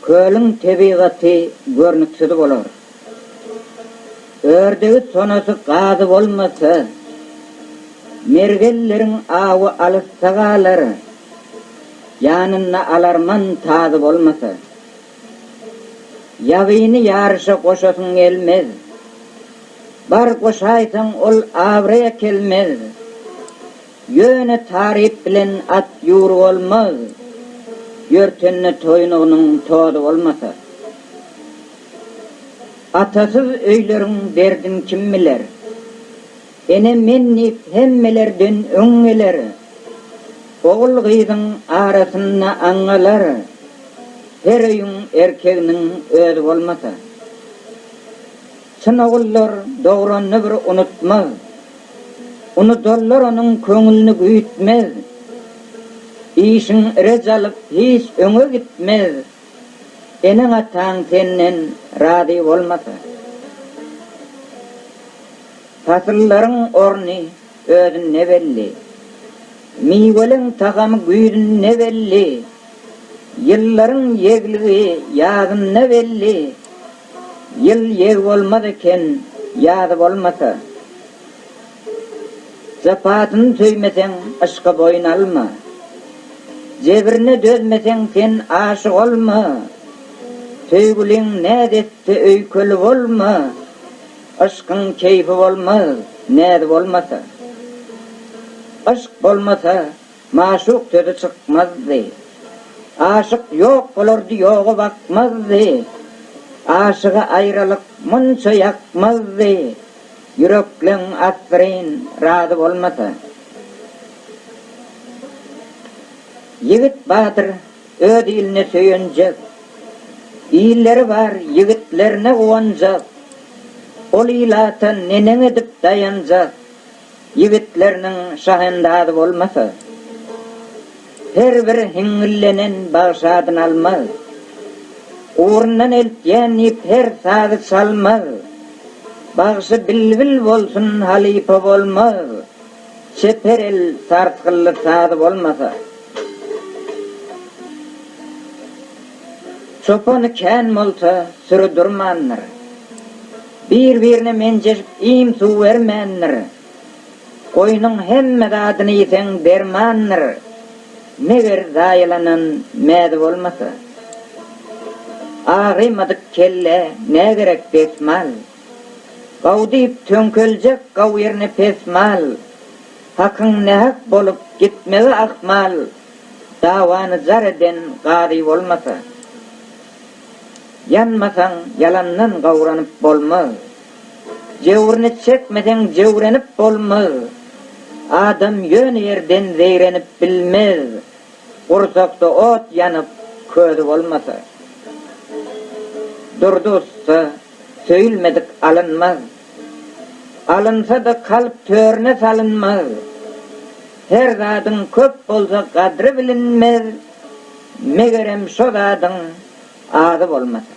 Kölüň tebigaty görnüksiz bolar. Ördegi, tonasy, gazy bolmasa, mergenleriň awy alysda galar, ýanynda alarman tazy bolmasa. Ýabyny ýaryşa goşasyň gelmez. Bar goşaýsaň, ol abraý äkelmez. Ýöne taryp bilen at ýur bolmaz, Ýörtende toýunygynyň tozy bolmasa. Atasyz öýleriň derdin kim biler, Ene men diýip hemmelerden öň geler. Ogul-gyzyň arasynda aňňalar, Her öýüň erkeginiň özi bolmasa. Çyn ogullar dogranyny bir unutmaz, Unudanlar onuň köňülini güýtmez. Işiň irej alyp hiç öňe gitmez, Eneň-ataň senden razy bolmasa. Pasyllaryň orny özünde belli, Miweleň tagamy güýzünde belli, Ýyllaryň ýegligi ýazynda belli. Ýyl ýeg bolmaz eken ýazy bolmasa. Japasyny söýmeseň yşka boýun alma. Jebrine dözmeseň sen aşyk olma. Söýgüliň näz etse öýkeli bolma. Yşkyň keýfi bolmaz näzi bolmasa. Yşk bolmasa Maşuk sözi çykmazdy. Aşyk ýok bolardy ýoga bakmazdy. Aşyga aýralyk munça ýakmazdy. Ýürekleň asyryn razy bolmasa. Ýigit batyr öz iline söýenjek. Illeri bar ýigitlerine guwanjak. Ol ilata neneň edip daýanjak. Ýigitleriniň şahendazy bolmasa, her bir hiňňillenen bagşadyny almaz. Ugrundan eltýän diýip her sazy çalmaz. Bagşy bilbil bolsun halypa bolmaz. Çeper el sarsgylly sazy bolmasa. Çopany kän bolsa süri durmandyr. Bir-birine menjeşip iým-suw bermändir. Goýnuň hemme zadyny iýseň dermandyr, meger zaýalanan mäzi bolmasa. Agrymadyk kelle nä gerek desmal. Gaw diýip töňkeljek gaw ýerine pes mal. Hakyň nähak bolup gitmegi ahmal, dawany jar eden gazy bolmasa. Ýanmasaň, ýalandan gawranyp bolmaz. Jöwrüni çekmeseň, jöwrenip bolmaz. Adam ýöne ýerden zeýrenip bilmez, gursakda ot ýanyp, közi bolmasa. Durdy ussa, söýülmedik alynmaz. Alynsa-da, kalp törüne salynmaz. Her zadyň köp bolsa, gadry bilinmez. Megerem şo zadyň ady bolmasyn.